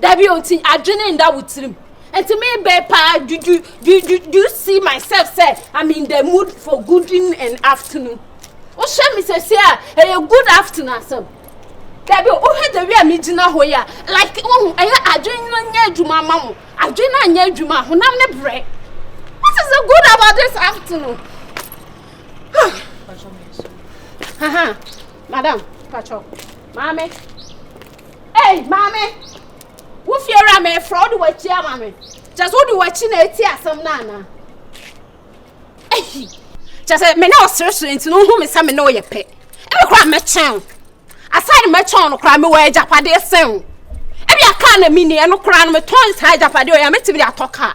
Dabi o, nti adwene nda wo tirim. Nti me bɛn paa, do, do, do, do, do you see myself sɛ I'm in the mood for good evening and afternoon? Wohwɛ me sɛsi a, ɛyɛ good afternoon asɛm. Dabi o, wohwɛ the way a me gyina hɔ yi a, like wohu, ɛyɛ adwene no nyɛ adwuma ama mo. Adwene no anyɛ adwuma a, honam ne brɛ. What is the good about this afternoon? Haha, madam, patro, maame. Ei, maame, wo fiewura mefrɛ wode w'akyi ama me. Kyɛ sɛ wode w'akyi na ɛti asɛm no ana? Ei, kyɛ sɛ me ne wo sere so nti no wohu me sɛ me ne wo yɛ pɛ. Ebe koraa mɛkyɛn wo. Aside mɛkyɛn no koraa mewɔ agyapadeɛ sen wo. Ebi a kaa na menni ɛno koraa no metɔn saa agyapadeɛ ɔyɛ a mɛtumi de atɔ kaa.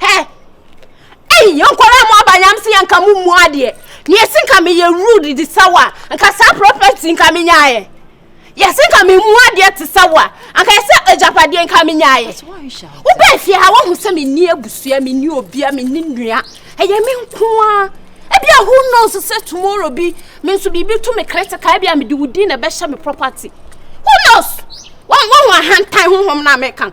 Hɛ! Ei, yɛn nkwadaa a moaba nyam sɛ yɛnka mo mmu adeɛ. Na yɛsi nka meyɛ rude de sɛ wo a, nka saa property nka menyaeɛ. Yɛsi nka memu adeɛ te sɛ wo a, anka yɛsɛ agyapadeɛ nka menyaeɛ. Wobɛɛ fie ha woahu sɛ menni abusua, menni obia, menni nua. Ɛyɛ me nko ara. Ebia who knows sɛ tomorrow bi me nso biribi to me critical ebia mede wo din na ɛbɛhyɛ me property. Who knows? Wɔn wɔn ahantan honhom na meka no.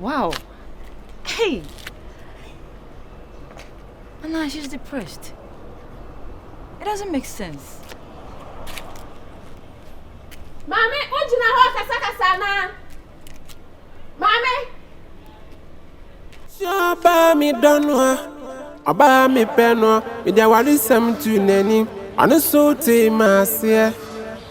Wow! Hey! And now she's depressed. It doesn't make sense. Mommy, what do you know? Kasa kasa na. Mommy. Shaba mi donwa. Aba mi penwa. Mi jawari sam tu neni. Anu so te masie.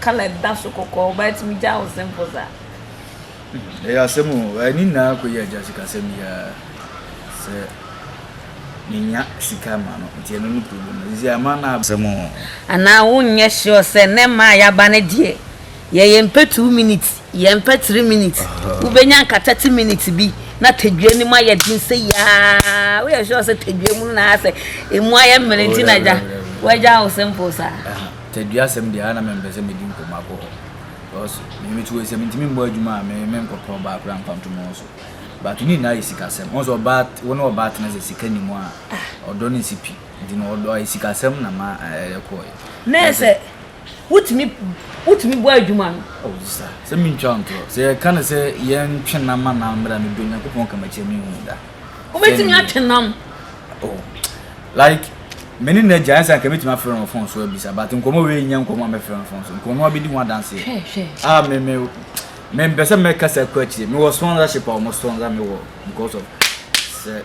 Colour da so kɔkɔɔ but tumi gya wo simple saa. Ɛyɛ asɛm o, ɛne nyinaa kɔyɛ agya sikasɛm yi ara sɛ menya sika ma no nti ɛno ne problem no sisi ama no asɛm o. Anaa wonyɛ sure sɛ nnɛ mmaa a yɛaba no deɛ yɛ yɛn pɛ two minutes yɛn mpɛ three minutes wobɛnya nka thirty minutes bi na tadua no mu ayɛ den sɛ yaa woyɛ sure sɛ tadua mu no na ayɛ sɛ ɛmu ayɛ mmere nti na agya wagya wo simple saa. Tɛduasɛm deɛ a na mempɛ sɛ medi nkɔmmɔ akɔ hɔ because me me tuo sɛ mentumi mmɔ adwuma a me me nkɔpɛ ɔbaa koraa mfa nto me ho so but ne nyinaa yɛ sikasɛm wohu sɛ ɔbaa wo ne ɔbaa tena sɛ sika ni mu a ɔdɔ no nsi pi nti no ɔdɔ ayɛ sikasɛm na ma ɛyɛ kɔɔe na sɛ wotumi wotumi bɔ adwuma no oh sisa sɛ mentwa wo ntorɔ sɛ yɛka no sɛ yɛntwe nam ma nam mmra no do Nyankopɔn kamakyia menhu da wobɛtumi atwe nam oh like Me ne n'agya ɛnsa nka mɛtumi afrɛ no wɔ fon so abisa but nkɔmmɔ wei nyɛ nkɔmmɔ a mɛfrɛ no fon so nka ɔno abɛdi ho adanseɛ a ah, me me me mpɛ sɛ mɛkasa kɔ akyire mewɔ sponsorship a wɔn sponsor me wɔ because of sɛ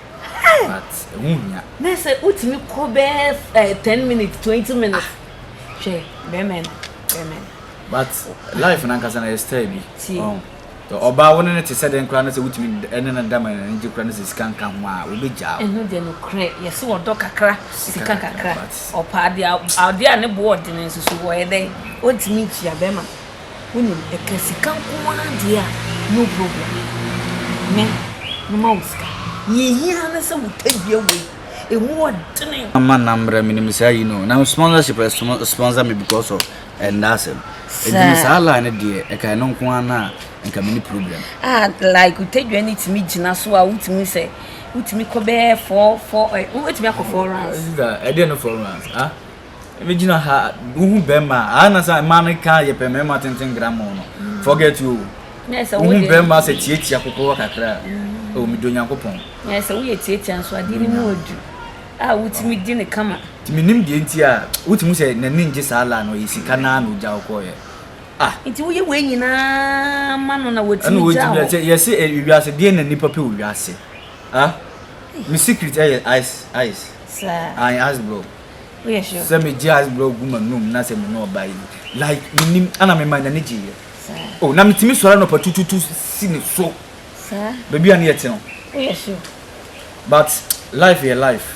but ɛho hia na sɛ wotumi kɔ bɛɛ eh, ten minutes twenty minutes hwɛ bɛmɛ no bɛmɛ no but life nankasa na yɛ style bi. Ɔbaa, wo ne no te sɛ dɛn koraa na sɛ wotumi ne no da ma n'ani gye koraa na sɛ sika nka ho a, obegyaa wo? Ɛno deɛ nokorɛ, yɛse ɔdɔ kakra, sika kakra. Ɔpɛ adeɛ a, adeɛ a ne boɔ ɔdene nso so ɔyɛ dɛn? Ɔntumi ntua, bɛrima wonim, ɛka sika nko ara deɛ a, no problem, me, mema wo sika. Deɛ ɛhia ne sɛ wo tadua wei, ɛmu ɔdene. Mama na mmerɛ, menim saa yi no, na sponsorship, sponsor me because of. Ɛnda asɛm. Ɛduru saa line no deɛ ɛka ɛno nko ara no a nka mini problem. Ah like otadwa no tumi gyina so a wotumi sɛ wotumi kɔ bɛyɛ four four ɛ eh, wotumi akɔ four rounds. Ɛdeɛ no four rounds ah ɛmi gyina ha wohu bɛrima ah na sɛ mmaa no ka yɛ pɛ mmarima tenten gramɔ no mm. forget you wohu bɛrima sɛ tiatia kokorɔ kakra ɛwɔ mi do nyankopɔn. Ɛsɛ woyɛ tiatia nso adeɛ no mu adu a wotumi di ne kama. Nti mennim deɛ nti a wotumi hu sɛ n'ani ngye saa la no ɔyɛ sika no ara na ogyaw kɔɔeɛ ah. Nti woyɛ wei nyinaa ma no na watumi gyaw. Ɛna wɔtumi sɛ yɛse ɛyɛ wiase deɛ na nipa pɛ wɔ wiase ah. Me secret ɛyɛ ice ice. Saa. Ae ice block. Woyɛ sure. Sɛ megye ice block gu m'anum na sɛ me ne ɔbaa yi like mennim ɛna mema n'ani gyeeɛ. Saa. Oh na metumi sɔre anɔpa tututu si ne so. Saa. Baabi a ne yɛte no. Woyɛ sure. But life yɛ life.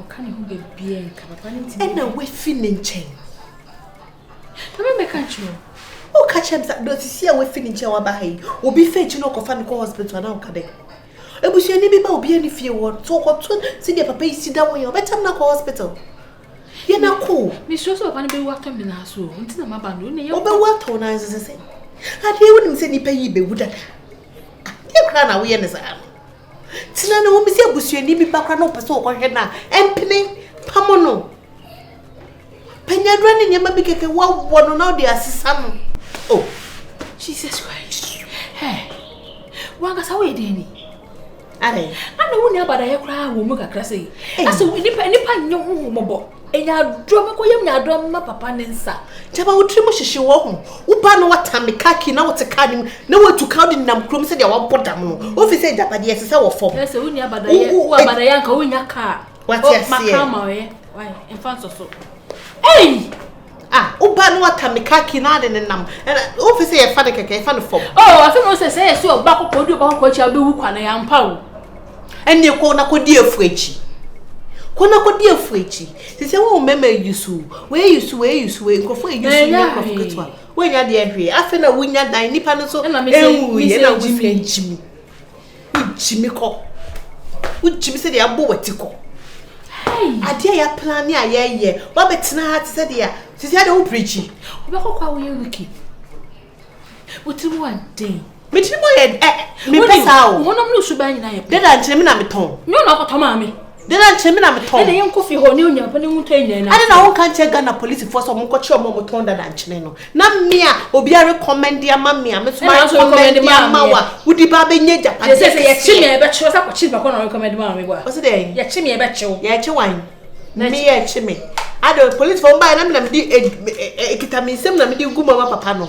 ɔka ne ho baabiaa nka papa no ntimi ɛna wafi ne nkyɛn na mɛmɛka nkyerɛ o woka kyerɛ m sa na sisi a wafi ne nkyɛn waba ha yi obi fɛ akyi na ɔkɔfa no kɔ hospital anaa ɔka dɛ abusuani bi ba obia ne fie wɔ so ɔkɔto sɛdeɛ papa yi si da wɔ yɛ ɔbɛtam no akɔ hospital yɛ na ko mesuro sɛ papa no bɛwu atɔ me naa so nti na maba no ne yɛ ɔbɛwu atɔ naa so sɛ sɛ adeɛ wonim sɛ nnipa yi bɛwu dada adeɛ koraa na woyɛ ne saa no Tena no wɔn sɛ abusuani bi ba koraa na ɔpɛ sɛ ɔkɔhwɛ no a mpene pamo no panyadura ne nneɛma bi kɛkɛ wɔwɔ no na ɔde asesa no o oh, jesus christ hey. wankasa woyɛ dɛn ni ana wo ne abadayɛ koraa wɔ mu kakra sɛ yi asɛ nipa nipa nyɛ ho mmɔbɔ Nyaadɔm mɛkɔ yam nyaadɔm mma papa ne nsa gyama wo tiri mu hyehye wɔ ho wo ba no wɔtam ne kaa kii na wote kaa no mu na watu ka wode nam kurom sɛdeɛ wɔbɔ dam no wofi sɛ agyapadeɛ ɛsɛ sɛ wɔ fam sɛ wonni abadayɛ wo abadayɛ anka wonya kaa wate aseɛ maka ama ɔyɛ mfa nsɔ so ei Ah wo ba no ata me car key na ade ne nam. Wo fi sɛ yɛfa no kɛkɛ, yɛfa no fam. Oh, afi mo sɛ sɛ yɛ sɛ ɔba kɔkɔ odi ɔba kɔkɔ akyi a wobɛwu kwa no yɛ ampa o. Ɛnneɛ kɔ na kɔdi afu akyi. Kɔ na kɔdi afu akyi. Te sɛ wɔn mmarima ayusu, wɔn ayusu, wɔn ayusu, wɔn nkurɔfoɔ ayusu nyɛ nkurɔfoɔ ketewa. Wɔnya deɛ hwee. Afei na wonya dan nipa no nso ɛnwuiɛ na wosɛ gyimi. Wogyimi kɔ. Wogyimi sɛdeɛ abɔ w'ati kɔ. Adeɛ a yɛaplane a yɛyɛ, woabɛtena ha te sɛdeɛ sisi adeɛ wo pirikyi. Wobɛkɔ kɔ a woyɛ wiki. Wotiri mu aden. Me tiri mu yɛ ɛ. Me pɛ saa o. Wo honam no suban nyinaa yɛ pɛ. Dada nkyɛn me na metɔn. Nyɛ na ɔkɔtɔ maa me. Dɛn na nkyɛ me na metɔn? Ɛna yɛnkɔ fi hɔ ne Onyankopɔn ne nwotɔ nyinaa na. Ɛna na wo nka nkyɛ Ghana polisifoɔ sɛ ɔmo nkɔkyerɛ ɔmo a ɔmo tɔn dada nkyene no. Na me a obi a rekɔmɛnde ama me a me nso ma rekɔmɛnde ama wo a wodi ba abɛnya agyapade. Yɛsɛ sɛ yɛkye me a yɛbɛkye wo sɛ akɔkye nipa koro na ɔrekɔmɛnde maa me bɔ. Ɔsi dɛn? Yɛkye me a yɛbɛkye wo. Yɛkye wan? Me yɛkye me. Ade polisifoɔ ɔmo baeɛ na me na mede ekita me nsam na mede gu mu ama papa no.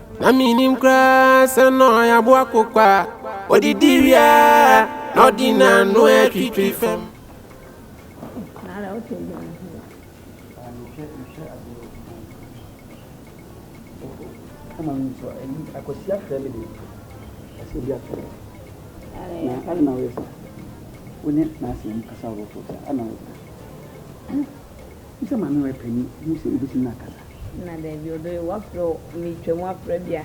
Na menim koraa sɛ na ɔyɛ aboa kokwa a ɔdidi wie a na ɔde n'ano atwitwi fam. Hu sɛ maame ɔyɛ panyin, hu sɛ wubetumi akasa. Na dabi, ɔdɔ yi, woafrɛ o, meretwa mu afrɛ bia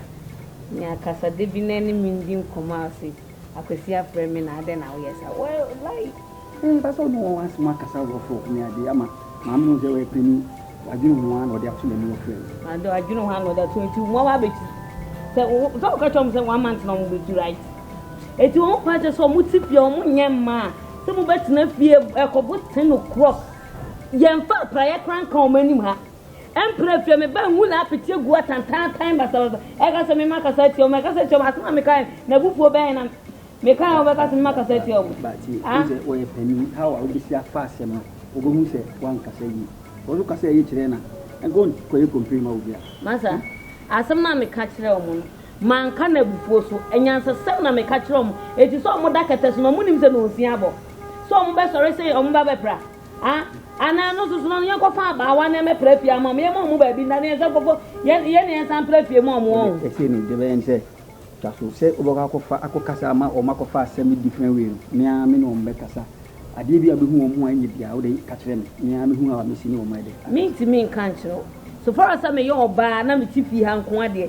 me akasa da bi na ɛne me ndi nkɔmmɔ a ɔse, Akwasi afrɛ me na adɛn na woyɛ saa? Well, like. Ɛɛ, ba sɛ ɔno wɔ w'asɛm akasa a wɔfrɛ wo ne ade ama maame hu sɛ ɔyɛ panyin, wadwene ho ara na ɔde ato n'anim afrɛ wo. Na ade ɔdwene ho ara na ɔde ato nti wɔn ara betu. Sɛ wo, sɛ woka kyerɛ wɔn sɛ one month na wɔbetu right? Enti wɔn paa kyerɛ sɛ wɔte fie a wɔnyɛ mma a sɛ mobɛtena fie ɛkɔ boten o'clock Yɛmfaa praeɛ koraa nka wɔn anim ha. Ɛmprɛ fie me baa nwula apete agu atantantan basabasa. Ɛka sɛ mema kasa atia wɔn, ɛka sɛ atia wɔn. Asɛm a mekae na abufuo bɛn na mekae a wɔbɛka sɛ mema kasa atia wɔn. Bati, ah. Wosɛ wɔyɛ panin, how a wobɛsi afa asɛm no, wɔbɛhu sɛ woankasa yie. Wɔn so kasa yie kyerɛ na ɛnka wɔnkɔyɛ complain ma obi a. Masa, asɛm no a meka kyerɛ wɔn no, manka no abufuo so. Anyansasɛm na meka kyerɛ wɔn. Ɛti sɛ wɔn da kɛtɛ so na wɔnim sɛ nonsia abɔ. sɛ ɔmo bɛ sɔre sɛ ɔmo ba bɛ pra a anaa no soso no yɛn kɔfa abaawa na ɛmɛ pra fie ama ɔmo yɛn mo ɔmo baabi na ne yɛn sɛ kɔfɔ yɛn yɛn ne yɛn san pra fie mu ɔmo wɔn. ɛsɛ no de bɛyɛ nsɛ twa so sɛ wobɛkɔ akɔfa akɔkasa ama ɔmo akɔfa asɛm different way no me ara me ne ɔmo bɛkasa adeɛ bi a bɛhu ɔmo a ɛnyɛ biara wode ka kyerɛ me me ara mehu a mesi ne ɔmo ɛdɛ. Mentumi nka nkyerɛ wo so far as sɛ meyɛ ɔbaa na mete fie ha nko ara deɛ.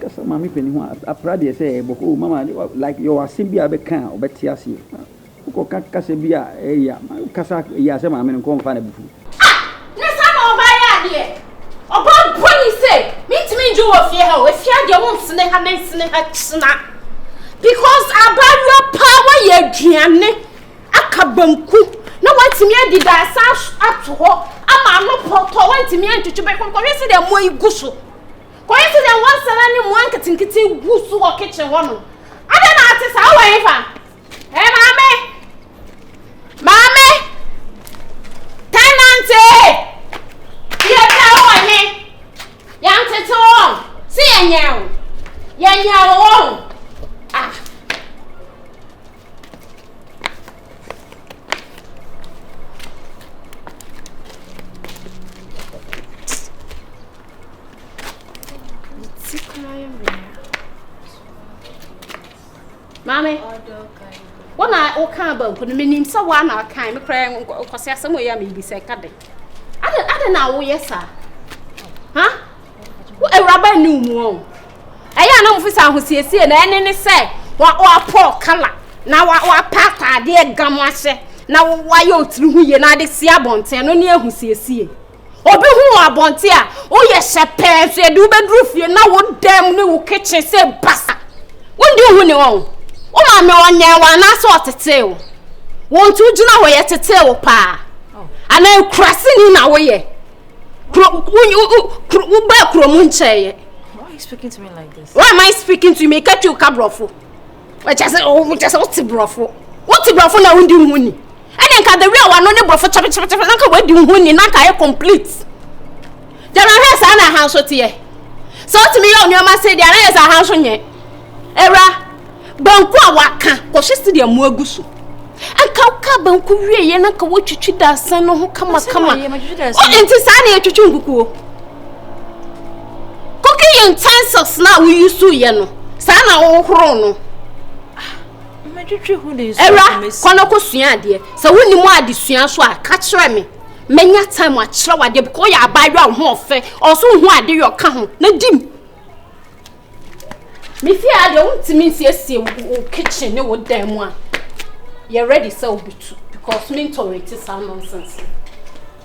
Kasa maame panin ho a, apra deɛ sɛ ɛyɛ bɔkɔɔ o, mama ne like yɛwɔ asɛm bi a bɛka a ɔbɛte aseɛ. Ma wokɔka kasa bi a ɛyɛ ya, ma wokasa ɛyɛ a sɛ maame no nkɔ mfa no abufuo. Ah! Na saa na ɔbaa yɛ adeɛ? Ɔbaa bɔne sei, mentumi ndwo wɔ fie ha o, ɛfie ha deɛ wonsene ha na nsene ha kyena. Because abaayewa paa wayɛ aduane aka banku na watumi adi da asan ato hɔ ama ano pɔtɔ, wantumi antwitwi bɛkɔ, kɔhwɛ sɛdeɛ mmoa yi gu so. Kɔyɛ te dɛ wɔasana ne mmoa nketenkete gu so wɔ kitchen hɔnom. Adɛn na ate saa? Wowɔ hefa? Ɛ maame! Maame! Tenante! Yɛ bra wowɔ he? Yɛantete wo wɔn. Se yɛnyɛn wo. Yɛnyɛn wo wɔn. Ah! Maame, wo na wokaa banku no menim sɛ woa na wokae me koraa nkɔse asɛm ɔyɛ a mebisa ɛka dɛ adɛ na woyɛ saa ha wo awuraba nni wo mu ɔ ɛyɛ a na mofi sɛ ahosiesie na ɛne ne sɛ woapɔ kala na woapa ataadeɛ gam ahyɛ na woayɛ ɔtiri ho yie na ade si abɔnten no ne ahosiesie Obi hu wɔ abɔnten a, woyɛ hyɛ pɛɛ nso yɛde wobɛduru fie na wo dɛm ne wo kitchen sɛ basa. Wondi wo ho ni wɔn. Wo maame ɔnyɛn wɔ anaasɛ ɔtetee wo. Wo nti wogyina hɔ yɛtetee wo paa. Anaa ekuraseni na woyɛ. Kuro wobaa kurom nkyɛeɛ. Why are you speaking to me like this? Why am I speaking to you? Meka twi wo ka borɔfo. Ɛkyɛ sɛ wote borɔfo. Wote borɔfo na wondi wo ho ni. ɛne nka the way a wano ne borɔfo kyɛpɛkyɛpɛkyɛpɛ na nka wadi wo ho ni na nka ayɛ complete gyama hwɛ saa na aha nso teɛ sɛ wotumi yɛ nneɛma se deɛ anayɛ sɛ aha nso nyɛ ɛwura banku a waka kɔhwɛ si deɛ mu agu so anka woka banku wieɛ na nka wotwitwi daasɛn no ho kamakama nti saa na yɛtwitwi nkukuo cooking utensils na woyi so yɛ no saa na wohoro no ɛwura kɔ no kɔ sua adeɛ sɛ wonni mu adesua so a ka kyerɛ me mɛnya time akyerɛ wadeɛ because ɔyɛ abaayewa a ɔho ɔfɛ ɔso ho ade yɛ ɔka ho na di mu mefie a deɛ wontumi nsiesie wo kitchen ne wo dan mu a yɛ ready sɛ wobɛtu because mentɔrɛti saa nonsense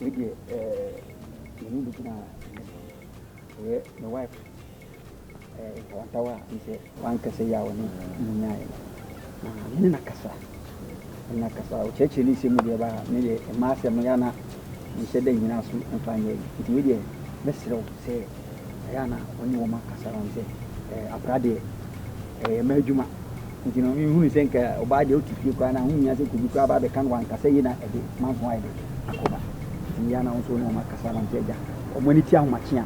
Wei deɛ ɛɛ mene bi gyina ɛyɛ my wife ɛɛ ntawantawa a n sɛ wankasa yi a wɔne mu nyaeɛ no na mene na kasa mene na kasa ɔkyerɛkyerɛ ne nsɛm mu deɛ ba ne deɛ mmaa asɛm no yɛ ana mehyɛ da nyina so mfa nyɛ yi nti wei deɛ mɛserɛ wo sɛ ɛyɛ ana wɔne wɔn akasa wɔn sɛ ɛɛ akora deɛ Ɛyɛ m'adwuma. Nti no nhunuu sɛ nka ɔbaa deɛ ɔte fie koraa no a ho nhia sɛ nka obi koraa ba abɛka no wɔ ankasa yie na ɛde manso ayɛ dɛ akɔba. Nti meyɛ a na wo nso wo ne wɔn akasa na wɔn nso agya wɔn ani ti ahomakyea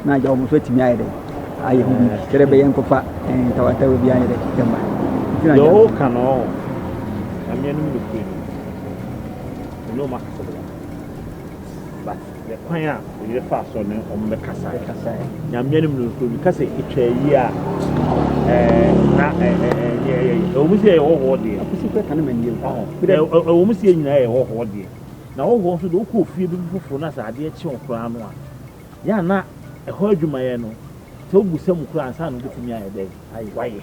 na agya wɔn nso atumi ayɛ dɛ ayɛ ho biribi sɛdeɛ ɛbɛyɛ nkɔfa ntawatawa bi anyɛ dɛ ɛmma. Nti na agya wɔn. Yɛwɔ ka no ɔɔ. Nyame anim no kure no. Ɛnyɛ wɔn akasa bɛyɛ. But. Yɛ kwan a oyere faa so ne wɔn bɛkasae. Nyame anim no, obi ka sɛ etwa ayie a, na ɛnyɛ ɛyɛ. Ɛwɔ mu sɛ yɛyɛ hɔhoɔ deɛ. Akosi kura ka ne mani yɛ. Ɛwɔ mu sɛ yɛn nyinaa yɛ hɔhoɔ deɛ. Na hɔhoɔ nso deɛ wokɔ ofie bi mu foforɔ na sɛ adeɛ kye wo koraa no a, yɛ a na ɛhɔ adwumayɛ no, sɛ wogu sɛ mu koraa ansa na wobɛtumi ayɛ dɛ wayɛ.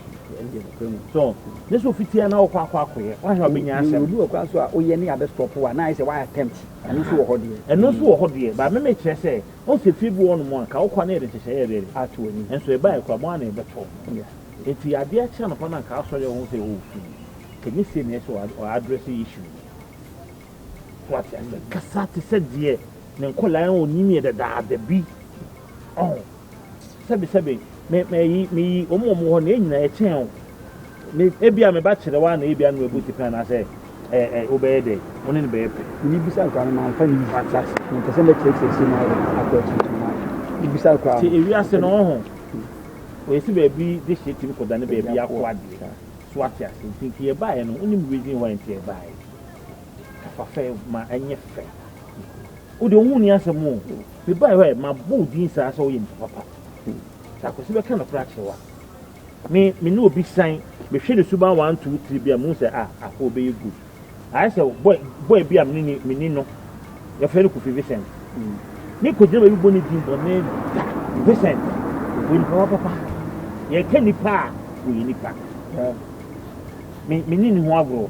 So, ne sɛ ofitiɛ na wokɔ akɔ akɔyɛ, woahwɛ a wobɛnya asɛm. Obi wɔ koraa so a woyɛ ne abɛstɔpo a, na ayɛ sɛ woayɛ attempt. Ɛno nso wɔ hɔ deɛ. Ɛno nso wɔ hɔ deɛ, but me mekyerɛ sɛ, wohu sɛ fie bi wɔ hɔnom a, ka wo kɔ na yɛde nhyehyɛeɛ bɛyɛ dɛ ato w'anim, nanso ɛbaeɛ koraa mo ara na ɛbɛtɔ. Yeah. Enti adeɛ kye anɔpa no a nka asɔre a wohu sɛ oh fii, nka ɛnyɛ sei na ɛsɛ sɛ ɔ address issue no. So wate aseɛ? Kasa te sɛ deɛ ne nkwadaa a ɔnim yɛ dadaada bi. Ɔho? Sɛbe, sɛbe, me, me, yi, me yi, wɔn wɔn hɔ na nyinaa ɛkyɛn o. Me, ebi a me ba kyerɛ wa na ebi a no ebu ti pɛn anaasɛ ɛɛ ɛɛ wobɛyɛ dɛ, wɔn ne bɛyɛ pɛ. Ni bisa kwa no ma nfa ni bisa kwa. Mpɛsɛ mɛ kyerɛ kyerɛ si na ɔyɛ akɔ akyi ma. Ni bisa kwa. Ti ewi ase na ɔho. Oyesi baabi de hyɛ tim kɔda ne baabi akɔ adeɛ. So ate ase nti nti yɛ baayɛ no wonim reason why nti yɛ baayɛ. Kafa fɛ ma ɛnyɛ fɛ. Wo deɛ wo ho nni asɛm o. Mebae hɔ ɛ, mabɔ wo din saa sɛ woyɛ nipa papa. Sɛ Akwasi bɛka nokorɛ akyerɛ wo a, me me ne obi san. Mehwɛ ne suban one two three bi a mehu sɛ ah Ako bɛyɛ good. Ayɛ sɛ boy boy bi a me ne me ni no yɛfrɛ no Kofi Vincent. Me kɔgyina baabi bɔ ne din bɔne da Vincent. Ɔyɛ nipa papa. Yɛka nipa a ɔyɛ nipa. Me me ne ne ho agorɔ.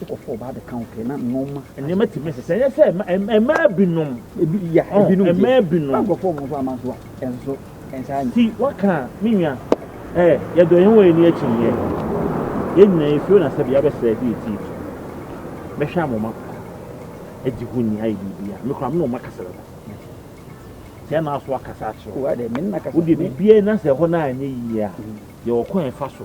Wokɔfa ɔbaa bɛka wo pɛɛ na nnoɔma. Nneɛma tumi sɛ sɛ ɛnyɛ sɛ mmaa binom. Ebi ya oh, ebinom de. Mmaa binom. Nkurɔfoɔ wɔn nso ama nso a ɛnso ɛnsa anyi. Ti waka me nua ɛɛ yɛdɔ yɛn wɔ yɛn ni akyi yɛ yɛn nyinaa esuo na sɛbi abɛsɛ ɛdi eti so mɛhwɛ amoma ɛdi ho ni ayɛ biribi a mekura mi na ɔma kasa dada sɛ ɛna aso akasa akyerɛ wo deɛ biribi a ɛna sɛ ɛhɔ na anyɛ yie a yɛ ɔkwan fa so.